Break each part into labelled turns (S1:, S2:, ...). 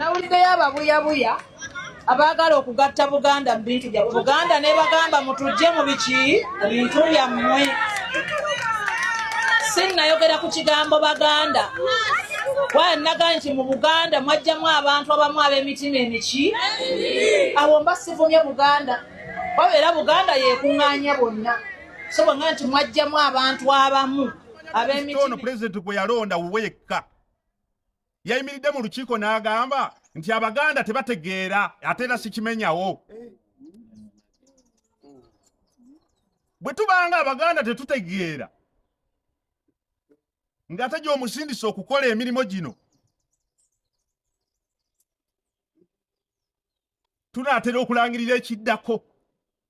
S1: nawuliddeyo ababuyabuya abaagala okugatta buganda mu bintu byabwe buganda nebagamba mutujje mu biki mu bintu byammwe sinnayogera ku kigambo baganda waye naga nti mu buganda mwajjamu abantu abamu ab'emitima emiki awo mba sivumye buganda wabeera buganda yekuŋŋaanya bonna sobo nga nti mwajjamu abantu abamu abemitono pulezidenti gwe
S2: yalonda wuwe yekka yayimiridde mu lukiiko n'agamba nti abaganda tebategeera ate era sikimenyawo bwe tubanga abaganda tetutegeera ng'ate gy'omusindisa okukola emirimu gino tunaatera okulangirira ekiddako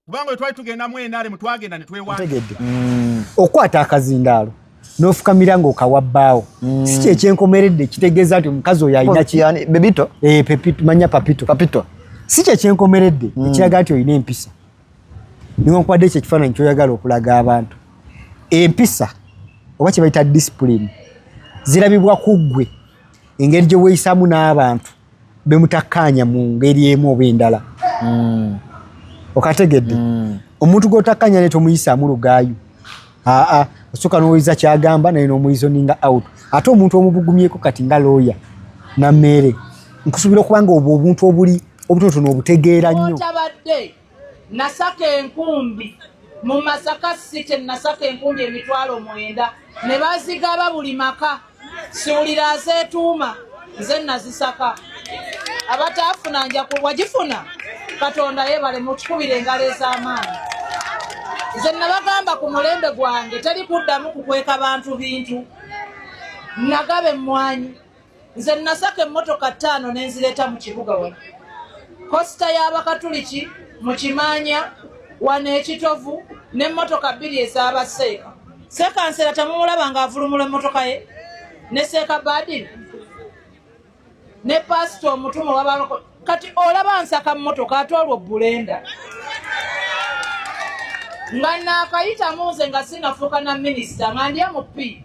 S2: kubanga we twali tugenda mu enaare mu twagenda ne twewategedde mm. okukwata
S3: akazindaalo nofukamira nga okawa bbaawo mm. si kyekyenkomeredde kitegeeza nti omukazi oyo alinakibebito eh,
S4: manya
S3: papito papito si kyekyenkomeredde mm. ekiraga nti olina empisa niwankubadde ekyo ekifaananyi kyoyagala okulaga abantu empisa oba kyebayita disipulini zirabibwa ku ggwe engeri gye weeyisaamu n'abantu bemutakkaanya mu ngeri emu oba endala mm. okategedde mm. omuntu gwotakkaanya ne tomuyisaamu lugaayu aa osooka n'owuliza kyagamba naye n'omuyizoninga out ate omuntu omubugumyeko kati nga looya na mmeere nkusuubira okuba nga obwo obuntu obuli obutonotono obutegeera nnyo
S1: nasaka enkumbi mu masaka site nasaka enkumbi emitwalo mwenda ne bazigaba buli maka siwulira azeetuuma nze nazisaka abataafuna nja wagifuna katonda yebale mutukubire engalo ez'amaanyi nze nabagamba ku mulembe gwange teri kuddamu kukweka bantu bintu nagaba emmwanyi nze nasaka emmotoka ttaano ne nzireeta mu kibuga wano kosita y'abakatuliki mu kimaanya wano ekitovu n'emmotoka bbiri ez'aba seeka sekansera temumulaba nga avulumula emmotoka ye ne seeka badini ne paasita omutumu wabaloko kati olaba nsaka mmotoka ate olwo bulenda nga naakayitamu nze nga sinafuuka na minisita nga ndya mu pii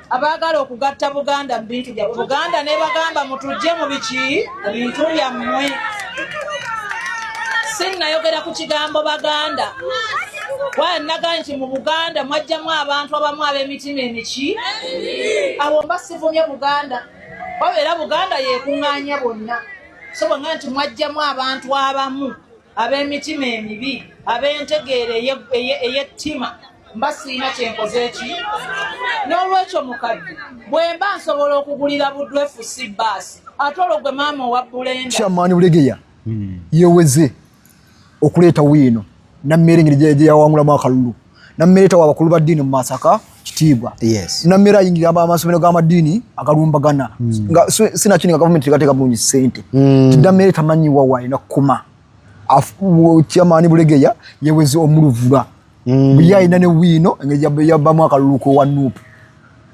S1: abaagala okugatta buganda mu bintu byabwe buganda nebagamba mutujje mu biki mu bintu byammwe sinnayogera ku kigambo baganda waya naga nti mu buganda mwajjamu abantu abamu ab'emitima emiki awo mba sivumye buganda wabeera buganda yekuŋŋaanya bonna so bwanga nti mwajjamu abantu abamu ab'emitima emibi ab'entegeera ey'ettima mba siina kyenkoze eki n'olwekyo mukadde bwe mba nsobola okugulira buddu efusi baasi ate olwo gwe maama owa bulenda kyamaani bulegeya
S4: hmm. yeweze okuleeta wiino nammeere engeri gyeyawangulamu akalulu nammereta wa bakulu ba ddiini mu masaka kitiibwa yes. nammera ayingira amasomero g'amadiini agalumbagana mm. nga sinakini nga gavumenti tegateeka bulungi sente mm. tidamere tamanyiwa waalina kukoma kyamaani bulegeya yeweze omuluvula mm. buye alina ne wiino engeri yabamu akaluluko wa nuupu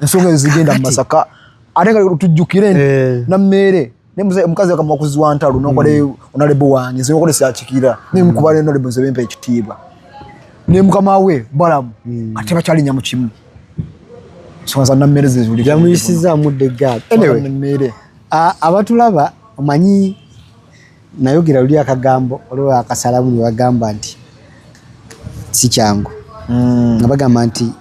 S4: ensonga ezigenda mu masaka ate nga tujjukire nti eh. nammeere ne mzee mukazi akamwa kuziwa ntalo nokole mm. onalebo wange nze nokole syakikira ne mkuba mm. ne onalebo nze bempa ekitiibwa ne mukama we balamu mm. ate bakyali nyamu kimu sonza na mmere zizuli yamuyisiza mudde
S3: gap anyway mmere
S4: abatulaba
S3: omanyi nayogera luli akagambo olwo akasalamu ne bagamba nti si kyangu mm. nga bagamba nti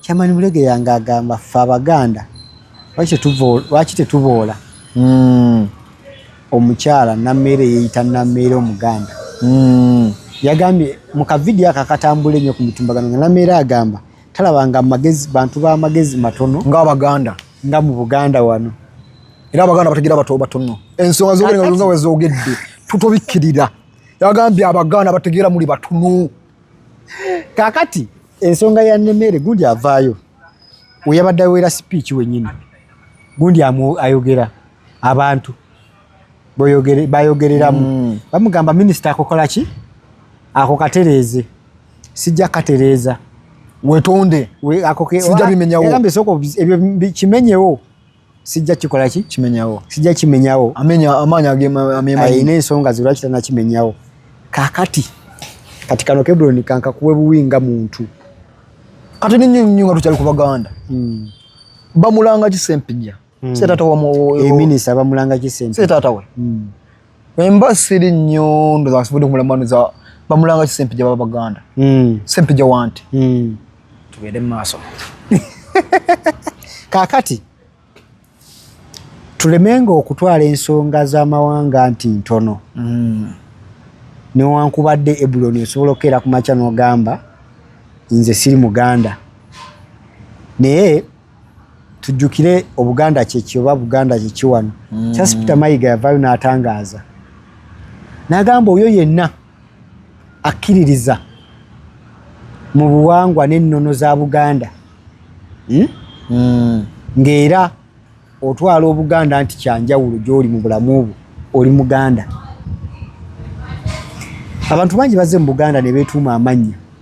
S4: Chairman Bulege
S3: yange agamba ffe Abaganda lwaki tetuboola hmm. omukyala nammeere yeeyita nammeere Omuganda hmm. yagambye mu kavidiyo ako akatambula ennyo ku mitimbagano nga nammeere agamba talabanga amagezi bantu b'amagezi matono ng'Abaganda nga
S4: mu Buganda
S3: wano era Abaganda
S4: bategeera bato batono ensonga zogerenga wezoogedde tutobikkirira yagambye Abaganda bategeera muli batono kakati
S3: ensonga ya nemere gundi
S4: avaayo
S3: weyabadde awera sipiiki wenyini gundi ayogera abantu bayogereramu mm. bamugamba minisita akokola ki ako katereeze sijja katereeza wetonde kimenyewo sijja kikola ki kimenyawo sijja kimenyawo amenya amaanyi
S4: agemayina
S3: ensonga ze lwaki tanakimenyawo kakati kati kano kebroni kankakuwe buwi nga muntu kati
S4: ninyo nyo nga tukyali ku baganda hmm. bamulanga kisempija hmm. se tata wa mu eminisita bamulanga
S3: kisempija se tata we hmm.
S4: Emba siri nnyo ndoza asubudde kumulamanuza bamulanga ki Sempija baba Baganda. Mm. Sempija wanti. Mm. Tugende maaso.
S3: Kakati tulemenga okutwala ensonga z'amawanga nti ntono. Mm. Newankubadde Ebuloni osobola okukeera ku makya n'ogamba nze siri Muganda. Naye tujjukire obuganda kyeki oba buganda kyeki wano mm. charles peter mayiga yavayo n'atangaaza n'agamba oyo yenna akkiririza mu buwangwa n'ennono za buganda hmm? mm. ng'era otwala obuganda nti kyanjawulo gy'oli mu bulamu obwo oli muganda abantu bangi bazze mu buganda ne beetuuma amannya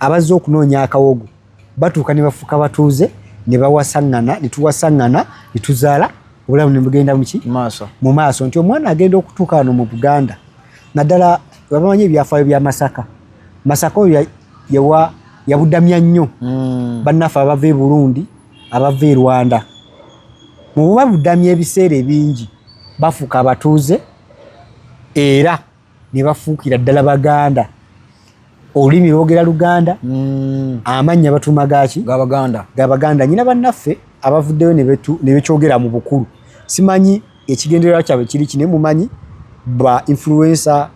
S3: abazze okunoonya akawogo batuuka ne bafuuka batuuze ne bawasaŋŋana ne tuwasaŋŋana ne tuzaala obulamu ne bugenda muki mu maaso nti omwana agenda okutuuka wano mu buganda naddala babamanyi ebyafaayo bya masaka masaka oyo yawa yabudamya nnyo hmm. bannaffe abava e burundi abava e rwanda mu bubabudamya ebiseera ebingi bafuuka abatuuze era ne bafuukira ddala baganda olulimi lwogera luganda mm. amannya batuuma gaki gabaganda gabaganda nyina bannaffe abavuddeyo ne bekyogera mu bukulu simanyi ekigendererwa kyabwe kiri kine mumanyi ba influencer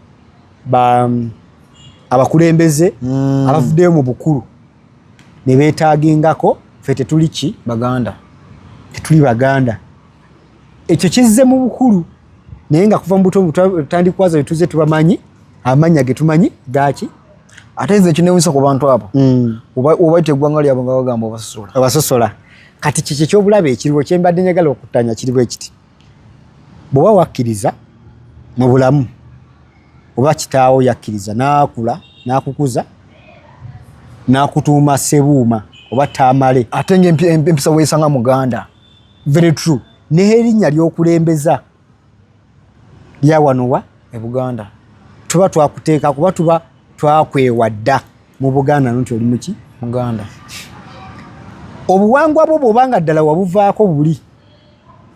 S3: ba mm, abakulembeze mm. abavuddeyo mu bukulu ne beetaagingako fe tetuli ki baganda tetuli baganda ekyo kizze mu bukulu naye nga kuva mu buto butandikwaza betuze tubamanyi amanya getumanyi gaki ate nze
S4: kinewunyisa ku bantu abo mm. obaita eggwanga lyabo nga bagamba obasosola obasosola
S3: kati kiki ekyobulabe ekiriwo kyembadde njagala okuttanya kiriwo ekiti bwewa wakkiriza mu bulamu oba kitaawo yakkiriza naakula nakukuza nakutuuma sebuuma oba taamale ate nga empisa
S4: weesanga muganda very true
S3: nehe erinya lyokulembeza lya wano wa e buganda
S4: tuba twakuteeka
S3: kuba tuba twakwewa dda mu buganda no nti oli muki muganda
S4: obuwangwa
S3: bwo bwoba nga ddala wabuvaako buli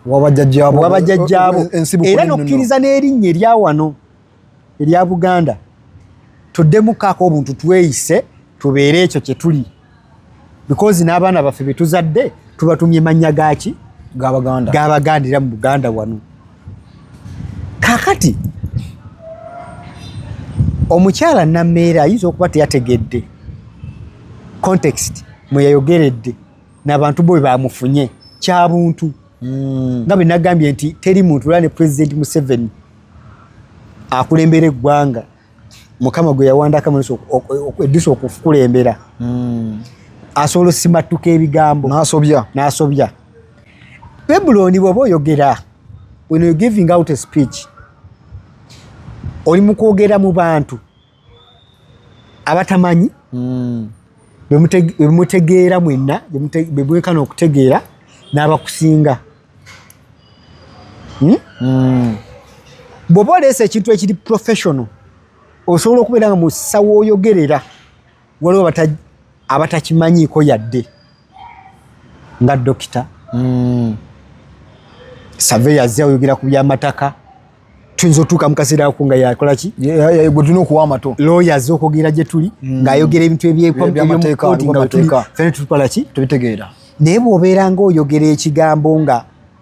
S3: wabajajjabo
S4: era nokkiriza
S3: n'erinnya erya wano erya Buganda tuddemu kaako obuntu tweyise tubeere ekyo kye tuli because n'abaana baffe be tuzadde tubatumye mannya gaaki gabagandira mu Buganda wano kakati omukyala nammeere ayinza okuba teyategedde context mwe yayogeredde nabantu bwe bamufunye kyabuntu hmm. nga bwe nagambye nti teri muntu lwa ne president museveni akulembera eggwanga mukama gwe yawandako amaaso eddiso okukulembera hmm. asobola osimattuka ebigambo nasobya nasobya babuloni bwoba oyogera when you giving out a speech oli mu kwogera mu bantu abatamanyi mm. bemutegeera mwenna bebwekana okutegeera n'abakusinga hmm? mm. bw'oba oleesa ekintu ekiri professional osobola okubeera nga musawo oyogerera waliwo abatakimanyiiko yadde nga dokita mm. saveya azze ayogera ku byamataka tuyinza otuuka mukaseera ako nga yakolaki gwetulina okuwa
S4: amato looya azze okwogera gye tuli
S3: mm. ng'ayogera ebintu ebyebyamateeka fena tutukolaki tubitegeera naye bw'obeera ngaoyogera ekigambo nga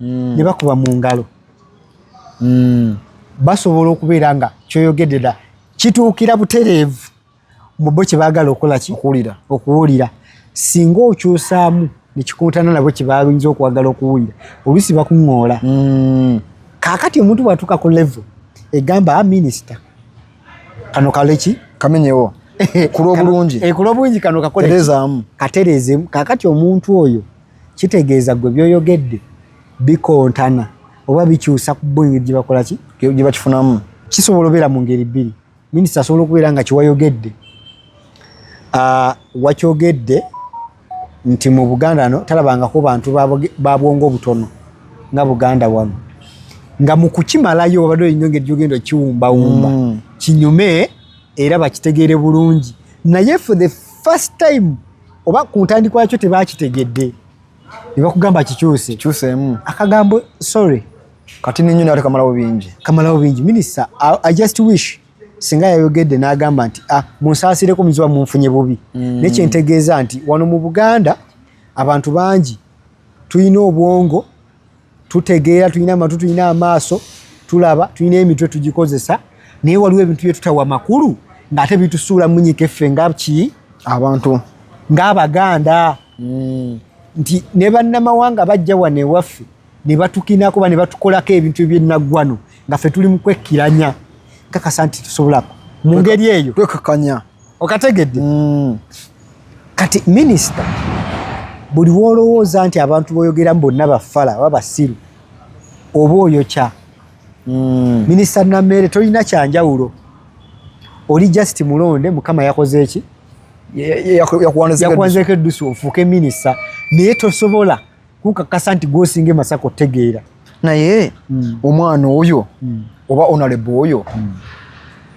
S3: mm. ne bakuba mu ngalo mm. basobola okubeera nga kyoyogedde da kituukira butereevu mu bo kye baagala okukola ki okuwulira singa okyusaamu nekikuntana nabo kyebayinza okwagala okuwulira oluusi bakuŋoola mm. kakati omuntu bwatuuka ku levo egamba a ah, minisita kano kaleki kamenyewo
S4: kulobulungi
S3: eh, kulobulungi kano kakoleezaamu katereezemu kakati omuntu oyo kitegeeza gwe byoyogedde bikontana oba bikyusa ku bo engeri gyebakola ki gyebakifunamu
S4: kisobola obeera mu
S3: ngeri bbiri minisita asobola okubeera nga kiwayogedde ah, wakyogedde nti mu buganda no talabangako bantu babwongo obutono nga buganda wano nga mu kukimalayo obadde olina engeri gyogenda okiwumbawumba mm. kinyume era bakitegeere bulungi naye for the first time oba ku ntandikwa yakyo tebakitegedde ne bakugamba kikyuse kikyuseemu akagambo sorry kati ninyo
S4: nate kamalawo bingi kamalawo bingi
S3: minisita i just wish singa yayogedde n'agamba nti ah, munsaasireko muziba munfunye bubi mm. naye kyentegeeza nti wano mu buganda abantu bangi tulina obwongo tutegeera tulina amatu tulina amaaso tulaba tulina emitwe tugikozesa naye waliwo ebintu byetutawa makulu ngaate bitusuula munyika effe nga ki abantu ngaabaganda mm. nti ne bannamawanga bajja wano ewaffe ne batukinako ba ne batukolako ebintu ebyenaggwano nga fe tuli mu kwekkiranya nkakasa nti tusobolaku mu ngeri eyo twekakanya
S4: okategedde
S3: mm. kati minisita buli wolowooza nti abantu boyogeramu bonna bafala oba basiru oba oyokya mm. minisita nameere tolina kyanjawulo oli just mulonde mukama yakoze eki yakuwanzeko eddusu ofuuke minisita naye tosobola kukakasa nti gwosinga emasaka otegeera naye
S4: mm. omwana oyo mm. oba onalebo oyo mm.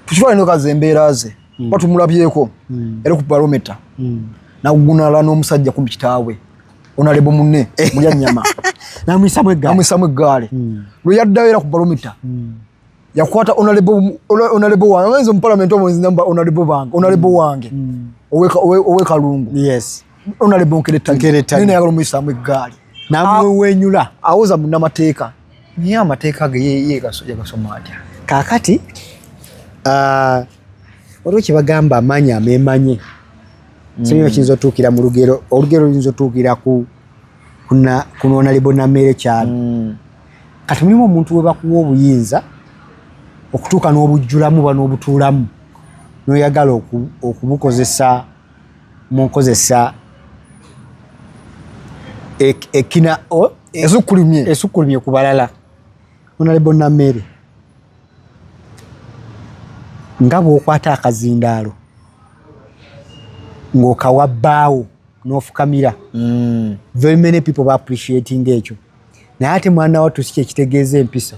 S4: tukifaanenokazi embeera ze mm. ba tumulabyeko mm. era ku barometa mm. nagunala n'omusajja kumbi kitaawe onalebo munne eh. mulya nyama namwisamu
S3: eggaali mm.
S4: lwe yaddayo era ku barometa mm. yakwata onalebo wange ngenze mupalamenti omo nzinamba onalebo bange onalebo mm. wange mm. owekalungu onalebo nkeretanayagala omuyisaamu eggaali namwewenyula
S3: ah, awoza munamateeka
S4: naye amateeka ge yegasoma atya kakati
S3: ah, waliwo kyebagamba amaanyi amemanye mm. simanyi kiyinza otuukira mu lugero olugero luyinza otuukira ku kunonalebo nameere kyalo kati mulimu omuntu webakuwa obuyinza okutuuka n'obujjulamu oba n'obutuulamu n'oyagala okubukozesa mu nkozesa ekina esukkulumye esukkulumye ku balala onalebo nameere nga bw'okwata akazindaalo ng'okawa bbaawo n'ofukamira mm. very many people ba appreciating ekyo naye ate mwana wattu si kyekitegeeza empisa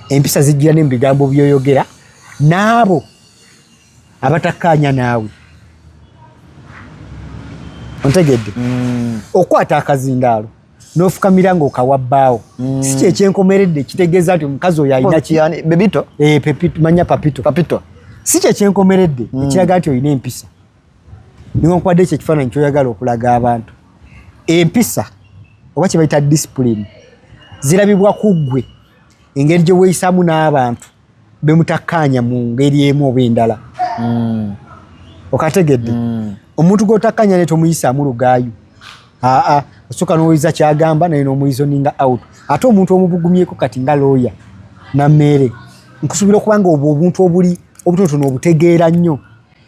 S3: empisa zijjira ne mu bigambo byoyogera n'abo abatakkaanya naawe ontegedde mm. okukwata akazindaalo nofukamira nga okawa bbaawo mm. si kyekyenkomeredde kitegeeza nti omukazi oyo alinamanya
S4: eh,
S3: papito si kyekyenkomeredde mm. ekiraga nti olina empisa newankubadde ekyo ekifaananyi kyoyagala okulaga abantu empisa oba kyebayita discipline zirabibwa ku ggwe engeri gye weeyisaamu n'abantu be mutakkaanya mu ngeri emu oba endala hmm. okategedde hmm. omuntu gw'otakkaanya naye tomuyisaamu lugaayu aa osooka n'owoyiza kyagamba naye n'omuyizoninga out ate omuntu omubugumyeko kati nga looya na mmeere nkusuubira okuba nga obwo obuntu obuli obutonotono obutegeera nnyo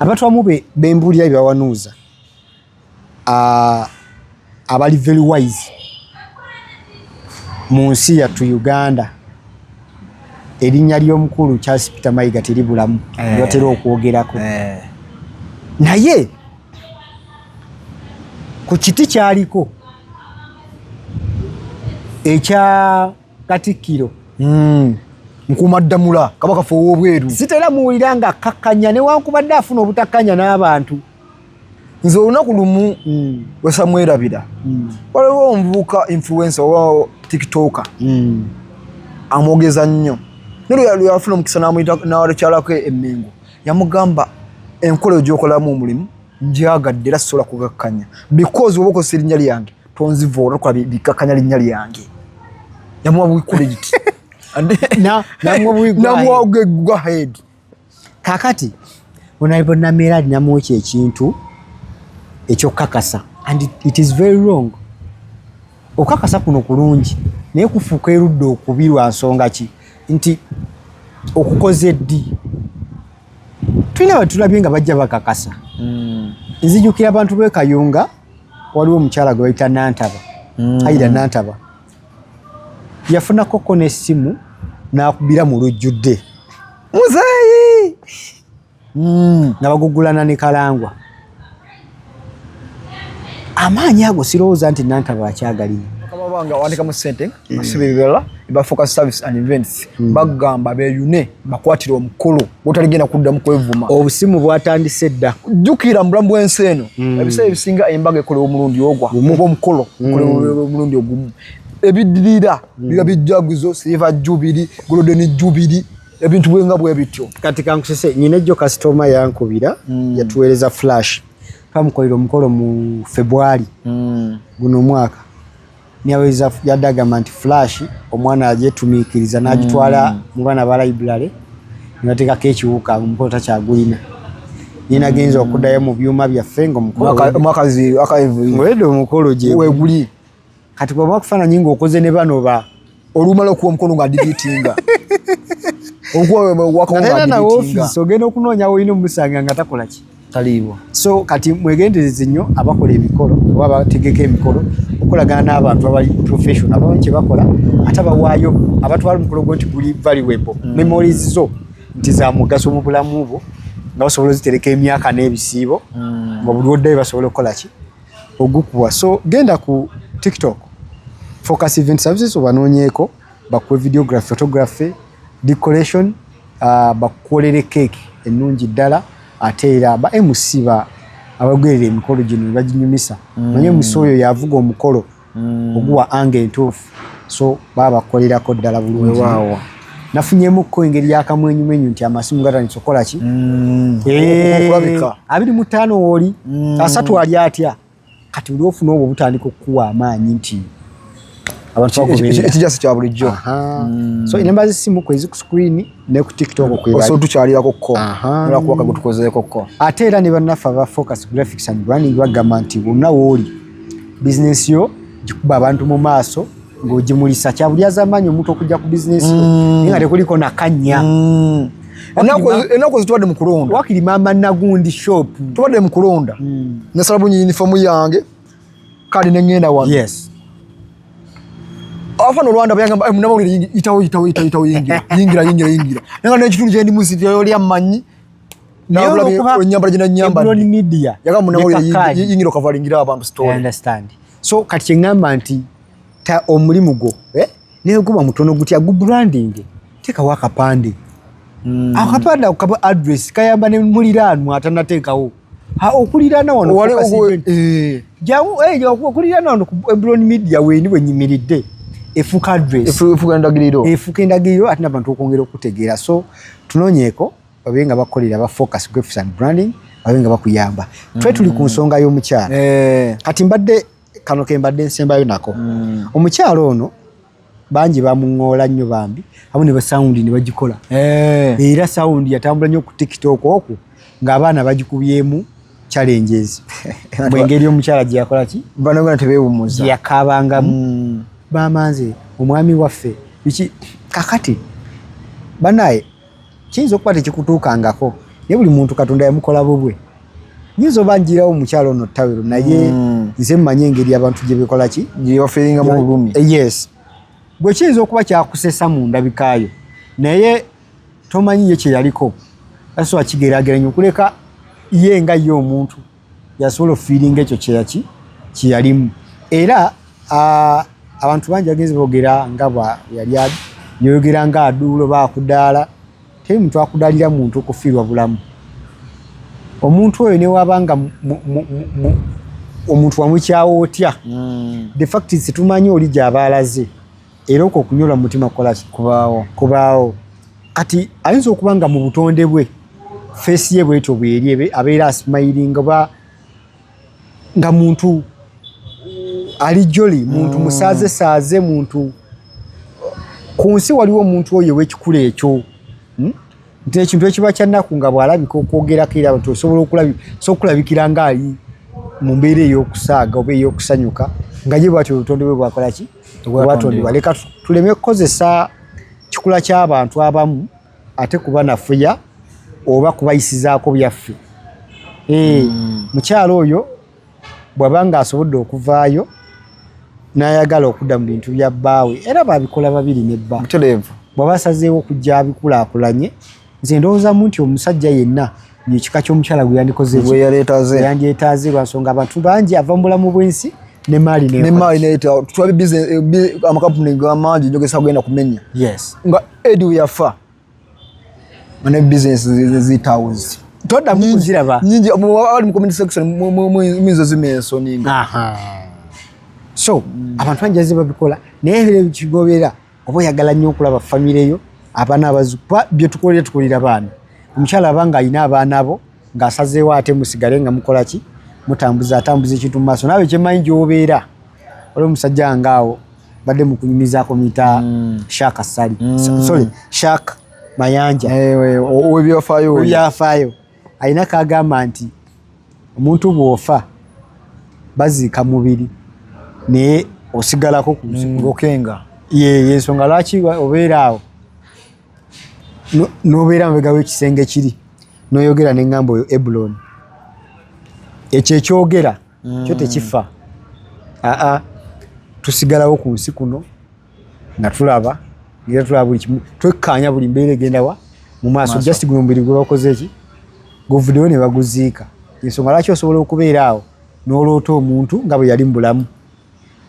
S3: abantu abamu bembuulira bye bawanuuza abali very wise mu nsi yattu uganda erinnya ly'omukulu charles peter mayiga teribulamu eh. batera okwogerako eh. naye ku kiti kyaliko ekya katikkiro hmm. nkumaddamula
S4: kabaka fe ow'obweru sitera muwulira nga
S3: akkakkanya newankubadde afuna obutakkanya n'abantu nze
S4: olunaku lumu hmm. wesamwerabira hmm. waliwo omuvubuka influensa owa tiktoka amwogeza nnyo nlweyafuna omukisa nawalukyalako emengo yamugamba enkola gyokolamu omulimu njagadde era sisobola kugakkanya because oba okozesa erinnya lyange tonziva olwokuba bikkakkanya linnya lyange namuwa buikulikiti namuwa gwa head kakati
S3: onalibonamera alinamu ekyo ekintu ekyokukakasa and it is very wrong okukakasa kuno kulungi naye kufuuka erudde okubi lwa nsonga ki nti okukoze ddi tulina batulabye nga bajja bakakasa hmm. nzijukira abantu bekayunga waliwo omukyala gwe bayita nantaba mm. ayira nantaba yafunakoko n'essimu n'akubira mu lujjudde muzeeyi mm. nga bagugulana ne kalangwa amaanyi ago sirowooza nti nantaba akyagalina
S4: bafuka service and events hmm. bagamba beyune bakwatira omukolo botaligenda kuddamu kwevuma obusimu bwatandise
S3: dda jukira mubulamu bwensi
S4: eno hmm. ebiseera ebisinga embaga ekolewa omulundi ogwa oba omukolo hmm. okolewa omulundi ogumu ebidirira biba bijjaguzo silver jubiri golden jubiri ebintu bwenga bwe bityo kati kankusese nyina
S3: ejjo kasitoma yankubira mm. yatuweereza flash kamukolera omukolo mu febwali mm. guno omwaka Nyaweza yadde agamba nti flash omwana agyetumiikiriza n'agitwala mm. mu baana ba library ne bateekako ekiwuka omukolo takyagulina naye nagenza okuddayo mu byuma byaffe ngaomukoloomwakaziwedde omukolo gyeguli
S4: kati bwaba
S3: okufaananyi ng'okoze ne bano ba olumala okuwa omukono
S4: nga digitinga okuwawakawonga
S3: nawe ofiisi ogenda okunoonya wolina omusanga nga takola ki taliibwa so
S4: kati
S3: mwegendereze nnyo abakola emikolo oba abategeka emikolo okolagana n'abantu abali professional abamanyi kye bakola ate abawaayo abatwala omukolo gwo nti guli valuable mm. memories zo nti za mugaso mu bulamu bwo nga basobola ozitereka emyaka n'ebisiibo mm. nga buli oddayo basobola okukola ki ogukuwa so genda ku tiktok focus event services obanonyeko bakuwe videography photography decoration uh, bakukolere cake ennungi ddala ate era ba mc ba abagoberera emikolo gino baginyumisa mm. naye musi oyo yavuga omukolo mm. oguwa anga entuufu so baba bakukolerako ddala bulungi nafunyemukko engeri yakamwenyumenyu nti amasimu gatandisa okukola ki mm. eh, abiri mu ttaano wooli mm. asatu ali atya kati oli ofuna obwo butandika okukuwa amaanyi nti
S4: ekijasi kya bulijjo mm. so enamba
S3: zesimu kwezi ku screen ne ku tiktok kwebaotukyalirako kko
S4: olwakuba kagutukozeeko kko ate era ne bannaffe aba
S3: focus graphics and branding bagamba nti bonna wooli bizinesi yo gikuba abantu mu maaso ng'ogimulisa kyabulyaza amaanyi omuntu okujja ku bizinesi yo mm. nga tekuliko nakanya mm.
S4: enaku zitubadde mu kulonda wakiri maama nagundi
S3: shop tubadde mu kulonda
S4: mm. nasala bunyi yunifoomu yange kale nengenda wano yes afana olwanda bayangamba eh, munamawulire yitawo yitawo yitawo yingira yingira yingira yingira nanga nekitundu kyendi musityoyoli amanyi so
S3: kati kyeŋamba nti omulimu gwo eh, naye guba mutono guti agubrandinge tekawo akapande hmm. akapande ako kaba address kayamba ne muliraanwa atanateekawo okuliraana wanokuliraana wano ebroni media weni wenyimiridde efuuka address efuuka endagiriro ate nabantu okwongera okutegeera so tunoonyeeko babe nga bakolera ba focus graphics and branding babe nga bakuyamba mm. twe tuli ku nsonga y'omukyala eh. kati mbadde kano ke mbadde nsembayo nako mm. omukyala ono bangi bamuŋoola nnyo bambi amu ne basawundi ne bagikola eh. era sawundi yatambula nnyo ku tiktok okwo ng'abaana bagikubyemu challenges mwengeri omukyala gye yakola ki banagona tebewumuza
S4: yakabangamu
S3: mm. bamanze
S4: omwami
S3: waffe biki kakati banaye kiyinza okuba tekikutuukangako naye buli muntu katonda yamukola bubwe nyinza oba njirawo omukyala ono tawero naye mm. nze mmanyi engeri abantu gye bekola ki gyebafiringamu obulumi
S4: eh, yes
S3: gwe kiyinza okuba kyakusesa mu ndabikaayo naye tomanyi ye kyeyaliko asoa kigeraageranya okuleka ye nga ye omuntu yasobola ofiiringa ekyo kyeyaki kyeyalimu era abantu bangi bagenzi boogera nga bweyali yoyogera nga aduulo baakudaala teri muntu akudaalira muntu okufiirwa bulamu omuntu oyo newaba nga omuntu wamukyawo otya mm. de fact situmanyi oli gyabaalaze era okwo okunyola mu mutima kukolaki kubaawo kubaawo kati ayinza okuba nga mu butonde bwe feesi ye bwetyo bweri abeera asimayiringa oba nga muntu ali joli muntu mm. musaaze saaze muntu ku nsi waliwo omuntu oyo owekikula ekyo hmm? nti ekintu ekiba kyannaku nga bw'alabika okwogerako era nti osobola okulabikira ng'ali mu mbeera ey'okusaaga oba ey'okusanyuka nga ye bwatyo obutonde bwe bwakola ki wewatondebwa leka tuleme kukozesa kikula ky'abantu abamu ate kuba nafuya oba kubayisizaako byaffe eh, hmm. mukyalo oyo bwaba nga asobodde okuvaayo nayagala okudda mu bintu bya bbaawe era babikola babiri ne bba bwaba asazeewo okujja abikulakulanye nze ndowoozamu nti omusajja yenna ekika ky'omukyala gwe yandikozeyandyetaaze lwansonga abantu bangi ava mu bulamu bw'ensi nemaali amakampuni eh, gamangi njogesa kugenda kumenya nga edi weyafa ne bizinesi zitawuzi todamukuzirabanyingi abali mu
S4: community section muyinza zima ensoni
S3: so abantu bangi azibabikola naye kigobeera oba oyagala nnyo okulaba famire yo abaana abazukuba byetukolera tukolera baana omukyala abanga alina abaana bo ng'asazeewo ate musigale nga mukola ki mutambuza atambuza ekintu mu maaso naawe kyemanyi gyobeera oli omusajja nga awo badde mukunyumizaako muyita mm. shaka sali mm. sorry shak mayanja eh, owebyafaayo alina kagamba nti omuntu bwofa baziika mubiri naye osigalako kungokenga
S4: yensonga
S3: lwaki obeera awo nobeera mubegawo ekisenge kiri noyogera neŋamba oyo ebuloni ekyo ekyogera mm. kyo tekifa aa tusigalawo ku nsi kuno nga tulaba ngera tulaba buli kimu twekkaanya buli mbeera egendawa mu maaso just guno mubiri gwe bakoze eki guvuddewo ne baguziika ensonga lwaki osobola okubeera awo n'oloota omuntu nga bwe yali mu bulamu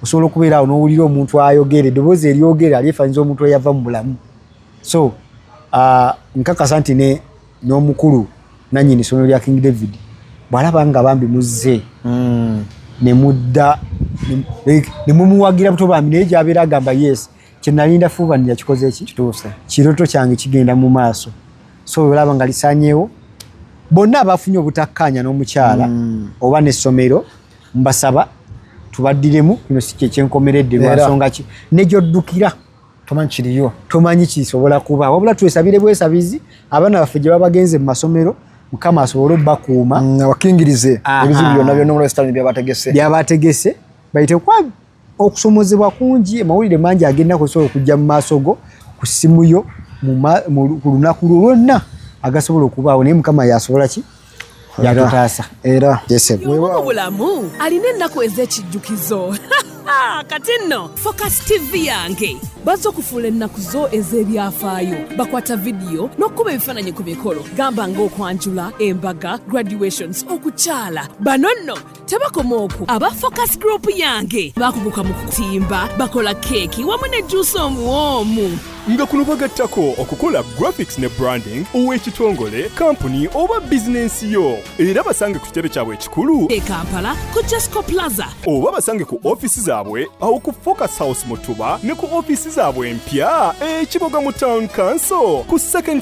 S3: osobola okubeera awo n'owulira omuntu ayogera eddoboozi eryogera lyefanyiza omuntu eyava mu bulamu so uh, nkakasa nti ne n'omukulu nannyini ssomero lya king david bw'alaba nga bambi muzze hmm. ne mudda ne mumuwagira buto bambi naye gyabeera agamba yes kye nalinda fuubani yakikoze ki kituuse kiroto kyange kigenda mu maaso so olaba nga lisanyeewo bonna abafunye obutakkaanya n'omukyala hmm. oba n'essomero mbasaba tubaddiremu kino si kyekyenkomeredde lwansonga ki ne gyoddukira tomanyi kiriyo tomanyi kisobola kuba wabula twesabire bwesabizi abaana baffe gye babagenze mu masomero mukama asobole obakuuma mm, abakingirize
S4: ebizibu byonna byonnaolwesitani byabategese byabategese
S3: bayite kwa okusomozebwa kungi amawulire mangi agenda kusobola okujja mu maaso go ku simu yo ku lunaku lwo lwonna agasobola okubaawo naye mukama yasobola ki yatutaasa era
S4: wewaawo bulamu
S5: alina ennaku ez'ekijjukizo Ah, kati nno focus tv yange bazze okufuula ennaku zo ez'ebyafaayo bakwata vidiyo n'okukuba ebifaananyi ku mikolo gamba ng'okwanjula embaga graduations okukyala bano nno tebakoma okwo aba focus group yange bakuguka mu kutimba bakola keeki wamu ne juusi omuwoomu nga kuno
S6: bagattako okukola graphics ne branding ow'ekitongole kampuni oba bizinensi yo era basange ku kitebe kyabwe ekikulu e kampala ku
S5: jesco plaza oba basange ku
S6: ofiisi zaabwe awo ku focus house mutuba ne ku ofiisi zaabwe empya ekiboga mu town council ku second